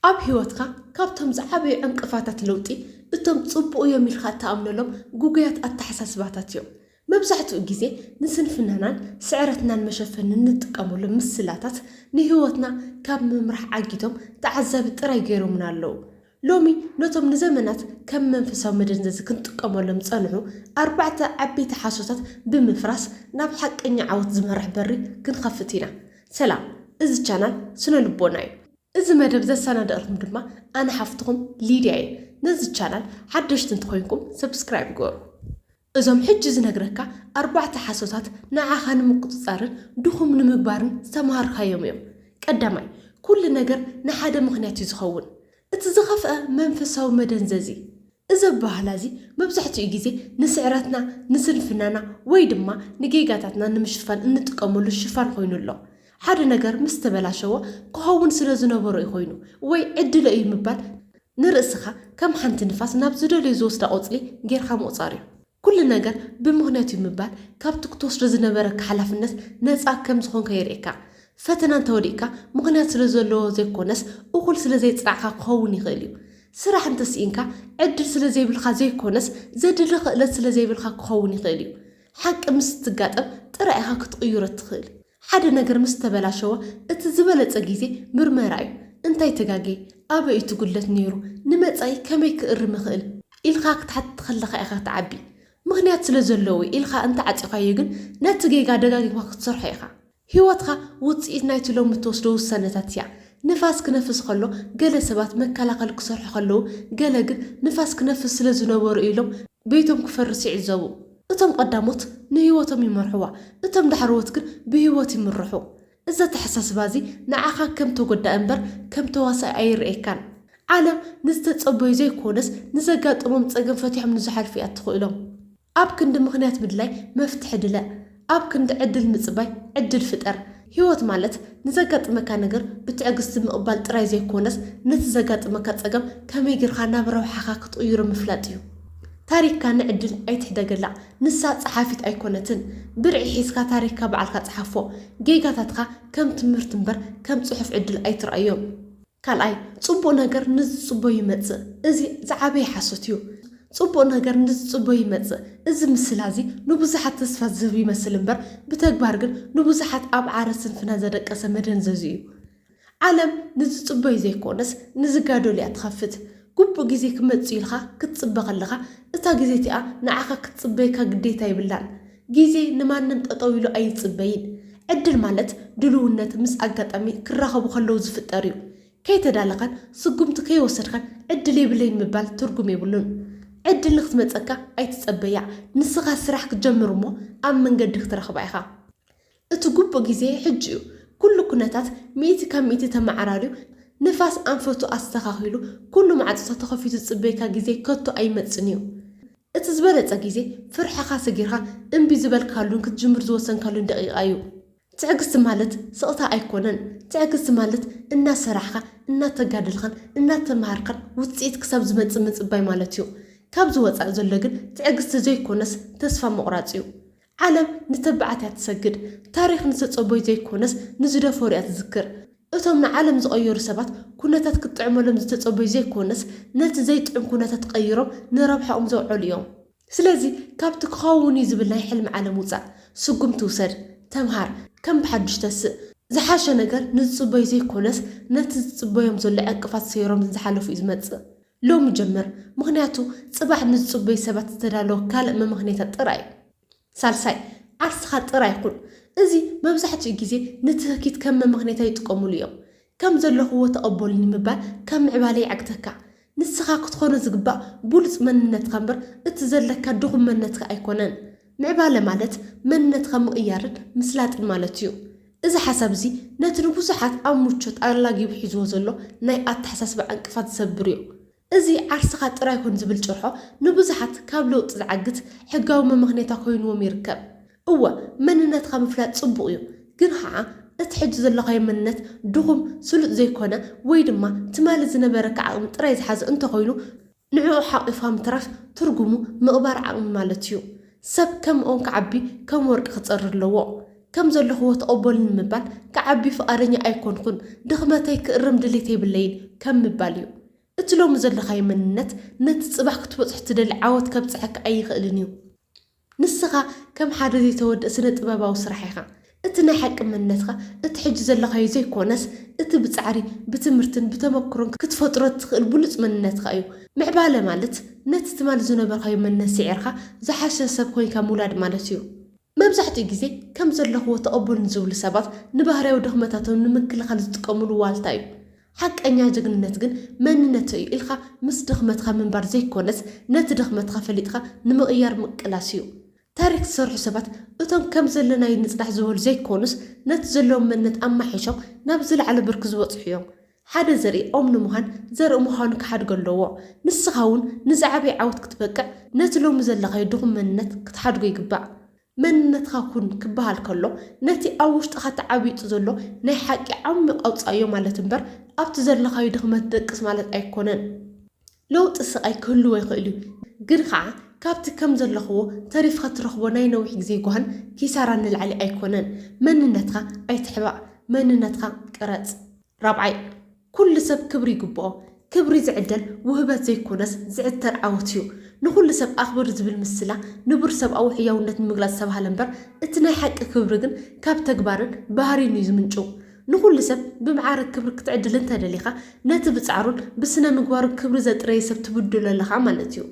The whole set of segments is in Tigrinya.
ኣብ ህይወትካ ካብቶም ዝዓበዩ ዕንቅፋታት ለውጢ እቶም ጽቡቕ እዮም ኢልካ እትኣምነሎም ግጉያት ኣተሓሳስባታት እዮም። መብዛሕትኡ ግዜ ንስንፍናናን ስዕረትናን መሸፈኒ እንጥቀመሎም ምስላታት ንህይወትና ካብ ምምራሕ ዓጊቶም ተዓዛቢ ጥራይ ገይሮምና ኣለዉ። ሎሚ ነቶም ንዘመናት ከም መንፈሳዊ መደንዘዚ ክንጥቀመሎም ዝጸንሑ ኣርባዕተ ዓበይቲ ሓሶታት ብምፍራስ ናብ ሓቀኛ ዓወት ዝመርሕ በሪ ክንኸፍት ኢና። ሰላም እዚ ቻናል ስነ ልቦና እዩ። እዚ መደብ ዘሰናደእልኩም ድማ ኣነ ሓፍትኹም ሊድያ እየ ነዚ ቻናል ሓደሽቲ እንተኾይንኩም ሰብስክራይብ ግበሩ እዞም ሕጂ ዝነግረካ ኣርባዕተ ሓሶታት ንዓኻ ንምቁጽጻርን ድኹም ንምግባርን ዝተማሃርካዮም እዮም ቀዳማይ ኩሉ ነገር ንሓደ ምኽንያት እዩ ዝኸውን እቲ ዝኸፍኣ መንፈሳዊ መደንዘዚ እዚ ኣበሃህላ እዚ መብዛሕትኡ ግዜ ንስዕረትና፣ ንስንፍናና ወይ ድማ ንጌጋታትና ንምሽፋን እንጥቀመሉ ሽፋን ኮይኑ ኣሎ። ሓደ ነገር ምስ ተበላሸወ ክኸውን ስለ ዝነበሮ እዩ ኮይኑ ወይ ዕድለ እዩ ምባል ንርእስኻ ከም ሓንቲ ንፋስ ናብ ዝደልዮ ዝወስዳ ቆጽሊ ጌርካ ምቑጻር እዩ። ኩሉ ነገር ብምኽንያት'ዩ ምባል ካብቲ ክትወስዶ ዝነበረካ ሓላፍነት ነጻ ከም ዝኾንካ የርእየካ። ፈተና እንተወዲቕካ ምኽንያት ስለ ዘለዎ ዘይኮነስ እኹል ስለ ዘይጽናዕካ ክኸውን ይኽእል'ዩ። ስራሕ እንተስኢንካ ዕድል ስለ ዘይብልካ ዘይኮነስ ዘድሊ ክእለት ስለ ዘይብልካ ክኸውን ይኽእል'ዩ። ሓቂ ምስ እትጋጠም ጥራይ ኢኻ ክትቕይሮ እትኽእል። ሓደ ነገር ምስ ተበላሸወ እቲ ዝበለጸ ግዜ ምርመራ እዩ። እንታይ ተጋግየ? ኣበይ እዩ እቲ ጉድለት ነይሩ? ንመጻኢ ከመይ ክእርም እኽእል? ኢልካ ክትሓትት ከለኻ ኢኻ ትዓቢ። ምኽንያት ስለ ዘለዎ እዩ ኢልካ እንተ ዓጺኻዮ ግን ነቲ ጌጋ ደጋጊምካ ክትሰርሖ ኢኻ። ህይወትካ ውጽኢት ናይቲ ሎሚ እትወስዶ ውሳነታት እያ። ንፋስ ክነፍስ ከሎ ገለ ሰባት መከላኸሊ ክሰርሑ ከለዉ ገለ ግን ንፋስ ክነፍስ ስለ ዝነበሮ እዩ ኢሎም ቤቶም ክፈርስ ይዕዘቡ። እቶም ቐዳሞት ንህይወቶም ይመርሑዋ፣ እቶም ዳሕረዎት ግን ብህይወት ይምርሑ። እዚ ኣተሓሳስባ እዚ ንዓኻ ከም ተጐዳኢ እምበር ከም ተዋሳኢ ኣይርእየካን። ዓለም ንዝተጸበዩ ዘይኰነስ ንዘጋጠሞም ጸገም ፈቲሖም ንዝሓልፉ እያ እትኽእሎም። ኣብ ክንዲ ምኽንያት ምድላይ መፍትሒ ድለ። ኣብ ክንዲ ዕድል ምጽባይ ዕድል ፍጠር። ህይወት ማለት ንዘጋጥመካ ነገር ብትዕግስቲ ምቕባል ጥራይ ዘይኮነስ፣ ነቲ ዘጋጥመካ ጸገም ከመይ ጌርካ ናብ ረብሓኻ ክትቕይሮ ምፍላጥ እዩ። ታሪኽካ ንዕድል ኣይትሕደገላ፣ ንሳ ጸሓፊት ኣይኮነትን። ብርዒ ሒዝካ ታሪኽካ ባዕልካ ጽሓፎ። ጌጋታትካ ከም ትምህርቲ እምበር ከም ጽሑፍ ዕድል ኣይትርኣዮ። ካልኣይ፣ ጽቡቕ ነገር ንዝጽቦ ይመጽእ፣ እዚ ዝዓበየ ሓሶት እዩ። ጽቡቕ ነገር ንዝጽቦ ይመጽእ፣ እዚ ምስላ እዚ ንብዙሓት ተስፋ ዝህብ ይመስል እምበር፣ ብተግባር ግን ንብዙሓት ኣብ ዓረ ስንፍና ዘደቀሰ መደንዘዙ እዩ። ዓለም ንዝጽቦዩ ዘይኮነስ ንዝጋደሉ እያ ትኸፍት። ግቡእ ግዜ ክመጽእ እዩ ኢልካ ክትጽበ ከለኻ፣ እታ ግዜቲኣ ንዓኻ ክትጽበየካ ግዴታ የብላን። ግዜ ንማንም ጠጠው ኢሉ ኣይጽበይን። ዕድል ማለት ድሉውነት ምስ ኣጋጣሚ ክራኸቡ ከለው ዝፍጠር እዩ። ከይተዳለኻን ስጉምቲ ከይወሰድካን ዕድል የብለይን ምባል ትርጉም የብሉን። ዕድል ንክትመጸካ ኣይትጸበያ። ንስኻ ስራሕ ክትጀምር እሞ ኣብ መንገዲ ክትረኽባ ኢኻ። እቲ ግቡእ ግዜ ሕጂ እዩ። ኩሉ ኩነታት ሚእቲ ካብ ሚእቲ ተመዓራርዩ፣ ንፋስ ኣንፈቱ ኣስተኻኺሉ፣ ኩሉ ማዕጾታት ተኸፊቱ ዝጽበየካ ግዜ ከቶ ኣይመጽን እዩ። እቲ ዝበለጸ ግዜ ፍርሕኻ ሰጊርካ እምቢ ዝበልካሉን ክትጅምር ዝወሰንካሉን ደቂቓ እዩ። ትዕግስቲ ማለት ስቕታ ኣይኮነን። ትዕግስቲ ማለት እናሰራሕካ፣ እናተጋደልካን እናተመሃርካን ውጽኢት ክሳብ ዝመጽእ ምጽባይ ማለት እዩ። ካብዚ ወጻኢ ዘሎ ግን ትዕግስቲ ዘይኮነስ ተስፋ ምቑራጽ እዩ። ዓለም ንተባዓት እያ ትሰግድ፣ ታሪኽ ንዝተጸበዩ ዘይኮነስ ንዝደፈሩ እያ ትዝክር። እቶም ንዓለም ዝቐየሩ ሰባት ኩነታት ክትጥዕመሎም ዝተጸበዩ ዘይኮነስ ነቲ ዘይጥዑም ኩነታት ቀይሮም ንረብሓኦም ዘውዐሉ እዮም። ስለዚ ካብቲ ክኸውን እዩ ዝብል ናይ ሕልሚ ዓለም ውጻእ። ስጉምቲ ውሰድ። ተምሃር። ከም ብሓዱሽ ተስእ። ዝሓሸ ነገር ንዝጽበዩ ዘይኮነስ ነቲ ዝጽበዮም ዘሎ ዕንቅፋት ሰይሮም ንዝሓለፉ እዩ ዝመጽእ። ሎሚ ጀምር ምኽንያቱ ጽባሕ ንዝጽበዩ ሰባት ዝተዳለወ ካልእ መመኽነይታ ጥራይ እዩ። ሳልሳይ፣ ዓርስኻ ጥራይ ኩን። እዚ መብዛሕትኡ ግዜ ንትህኪት ከም መመኽነይታ ይጥቀሙሉ እዮም። ከም ዘለኹዎ ተቐበሉኒ ምባል ካብ ምዕባለ የዕግተካ። ንስኻ ክትኾኖ ዝግባእ ብሉጽ መንነትካ እምበር እቲ ዘለካ ድኹም መንነትካ ኣይኮነን። ምዕባለ ማለት መንነትካ ምቕያርን ምስላጥን ማለት እዩ። እዚ ሓሳብ እዚ ነቲ ንብዙሓት ኣብ ምቾት ኣላጊቡ ሒዝዎ ዘሎ ናይ ኣተሓሳስባ ዕንቅፋት ዝሰብርዮ። እዚ ዓርስኻ ጥራይ ኩን ዝብል ጭርሖ ንብዙሓት ካብ ለውጢ ዝዓግት ሕጋዊ መመኽነይታ ኮይንዎም ይርከብ። እወ መንነትካ ምፍላጥ ጽቡቕዮ። ግን ኸኣ እቲ ሕጂ ዘሎኻዮ መንነት ድኹም፣ ስሉጥ ዘይኮነ ወይ ድማ ትማሊ ዝነበረካ ዓቕሚ ጥራይ ዝሓዘ እንተኾይኑ፣ ንዕኡ ሓቂፋ ምትራፍ ትርጉሙ ምቕባር ዓቕሚ ማለት እዩ። ሰብ ከም ኦም ክዓቢ ከም ወርቂ ክጸሪ ኣለዎ። ከም ዘለኹዎ ተቐበሉኒ ንምባል ክዓቢ ፍቓደኛ ኣይኮንኹን፣ ድኽመተይ ክእርም ድሌት የብለይን ከም ምባል እዩ። እቲ ሎሚ ዘለኻዮ መንነት ነቲ ጽባሕ ክትበጽሖ ትደሊ ዓወት ከብጽሐካ ኣይኽእልን እዩ። ንስኻ ከም ሓደ ዘይተወድእ ስነ-ጥበባዊ ስራሕ ኢኻ። እቲ ናይ ሓቂ መንነትካ እቲ ሕጂ ዘለኻዮ ዘይኮነስ፣ እቲ ብጻዕሪ፣ ብትምህርትን ብተመክሮን ክትፈጥሮ እትኽእል ብሉጽ መንነትካ እዩ። ምዕባለ ማለት ነቲ ትማል ዝነበርካዮ መንነት ስዒርካ ዝሓሸ ሰብ ኮይንካ ምውላድ ማለት እዩ። መብዛሕትኡ ግዜ ከም ዘለኽዎ ተቐበሉኒ ዝብሉ ሰባት ንባህርያዊ ድኽመታቶም ንምክልኻል ዝጥቀምሉ ዋልታ እዩ። ሓቀኛ ጅግንነት ግን መንነተይ እዩ ኢልካ ምስ ድኽመትካ ምንባር ዘይኮነስ ነቲ ድኽመትካ ፈሊጥካ ንምቕያር ምቅላስ እዩ። ታሪክ ዝሰርሑ ሰባት እቶም ከም ዘለናዩ ንፅናሕ ዝበሉ ዘይኮኑስ ነቲ ዘለዎም መንነት ኣማሒሾም ናብ ዝለዓለ ብርኪ ዝበፅሑ እዮም። ሓደ ዘርኢ ኦም ንምዃን ዘርኢ ምዃኑ ክሓድጎ ኣለዎ። ንስኻ እውን ንዝዓበየ ዓወት ክትበቅዕ ነቲ ሎሚ ዘለኻዮ ድኹም መንነት ክትሓድጎ ይግባእ። መንነትካ ኩን ክበሃል ከሎ ነቲ ኣብ ውሽጥኻ ተዓቢጡ ዘሎ ናይ ሓቂ ዓሚቕ ኣውጽኣዮ ማለት እምበር ኣብቲ ዘለኻዩ ድኽመት ደቅስ ማለት ኣይኮነን። ለውጢ ስቓይ ክህልዎ ይኽእል እዩ ግን ኸኣ ካብቲ ከም ዘለኽዎ ተሪፍካ ትረኽቦ ናይ ነዊሕ ግዜ ጓህን ኪሳራን ንላዕሊ ኣይኮነን። መንነትካ ኣይትሕባእ መንነትካ ቅረጽ። ራብዓይ። ኩሉ ሰብ ክብሪ ይግብኦ። ክብሪ ዝዕደል ውህበት ዘይኮነስ ዝዕተር ዓወት እዩ። ንኹሉ ሰብ ኣኽብር ዝብል ምስላ ንቡር ሰብኣዊ ሕያውነት ንምግላጽ ዝተባህለ እምበር እቲ ናይ ሓቂ ክብሪ ግን ካብ ተግባርን ባህርይን እዩ ዝምንጭው። ንኹሉ ሰብ ብመዓርግ ክብሪ ክትዕድል እንተደሊኻ ነቲ ብጻዕሩን ብስነ-ምግባሩን ክብሪ ዘጥረየ ሰብ ትብድሎ ኣለኻ ማለት እዩ።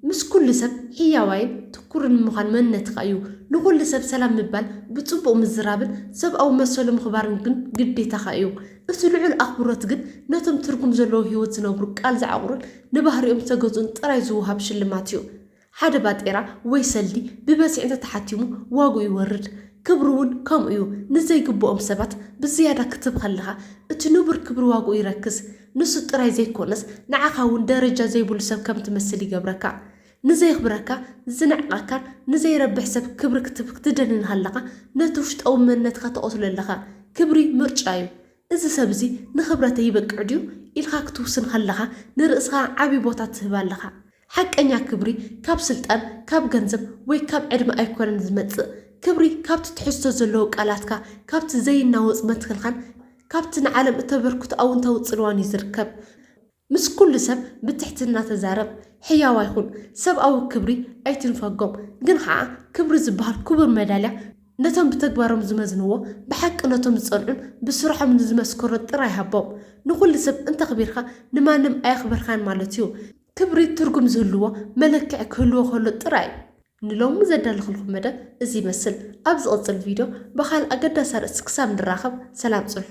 ምስ ኩሉ ሰብ ሕያዋይን ትኩርን ምዃን መንነትካ እዩ። ንኹሉ ሰብ ሰላም ምባል፣ ብጽቡቕ ምዝራብን ሰብኣዊ መሰሉ ምኽባርን ግን ግዴታኻ እዩ። እቲ ልዑል ኣኽብሮት ግን ነቶም ትርጉም ዘለዎ ህይወት ዝነብሩ፣ ቃል ዝዓቑሩን ንባህሪኦም ዝተገዝኡን ጥራይ ዝወሃብ ሽልማት እዩ። ሓደ ባጤራ ወይ ሰልዲ ብበዝሒ እንተ ተሓቲሙ ዋግኡ ይወርድ። ክብሪ'ውን ከምኡ እዩ። ንዘይግብኦም ሰባት ብዝያዳ ክትህብ ከለኻ፣ እቲ ንቡር ክብሪ ዋግኡ ይረክስ። ንሱ ጥራይ ዘይኮነስ ንዓኻ እውን ደረጃ ዘይብሉ ሰብ ከም ትመስል ይገብረካ። ንዘየኽብረካ፣ ዝንዕቐካን ንዘይረብሕ ሰብ ክብሪ ክትህብ ክትደሊ እንሃለኻ ነቲ ውሽጣዊ መንነትካ ትቐትሎ ኣለኻ። ክብሪ ምርጫ እዩ። እዚ ሰብ እዚ ንኽብረተይ ይበቅዕ ድዩ ኢልካ ክትውስን ከለኻ ንርእስኻ ዓቢ ቦታ ትህብ ኣለኻ። ሓቀኛ ክብሪ ካብ ስልጣን፣ ካብ ገንዘብ ወይ ካብ ዕድመ ኣይኮነን ዝመጽእ። ክብሪ ካብቲ ትሕዝቶ ዘለዎ ቃላትካ፣ ካብቲ ዘይናወጽ መትከልካን ካብቲ ንዓለም እተበርክቶ ኣውንታዊ ጽልዋን እዩ ዝርከብ። ምስ ኩሉ ሰብ ብትሕትና ተዛረብ። ሕያዋይ ኩን። ሰብኣዊ ክብሪ ኣይትንፈጎም። ግን ኸኣ ክብሪ ዝበሃል ክቡር መዳልያ ነቶም ብተግባሮም ዝመዝንዎ፣ ብሓቂ ነቶም ዝጸንዑን ብስርሖም ንዝመስከሩን ጥራይ ሃቦም። ንኹሉ ሰብ እንተኽቢርካ ንማንም ኣየኽበርካን ማለት እዩ። ክብሪ ትርጉም ዝህልዎ መለክዒ ክህልዎ ከሎ ጥራይ እዩ። ንሎሚ ዘዳለኹልኩም መደብ እዚ ይመስል። ኣብ ዝቕጽል ቪድዮ ብኻልእ ኣገዳሲ ኣርእስቲ ክሳብ ንራኸብ ሰላም ጽንሑ።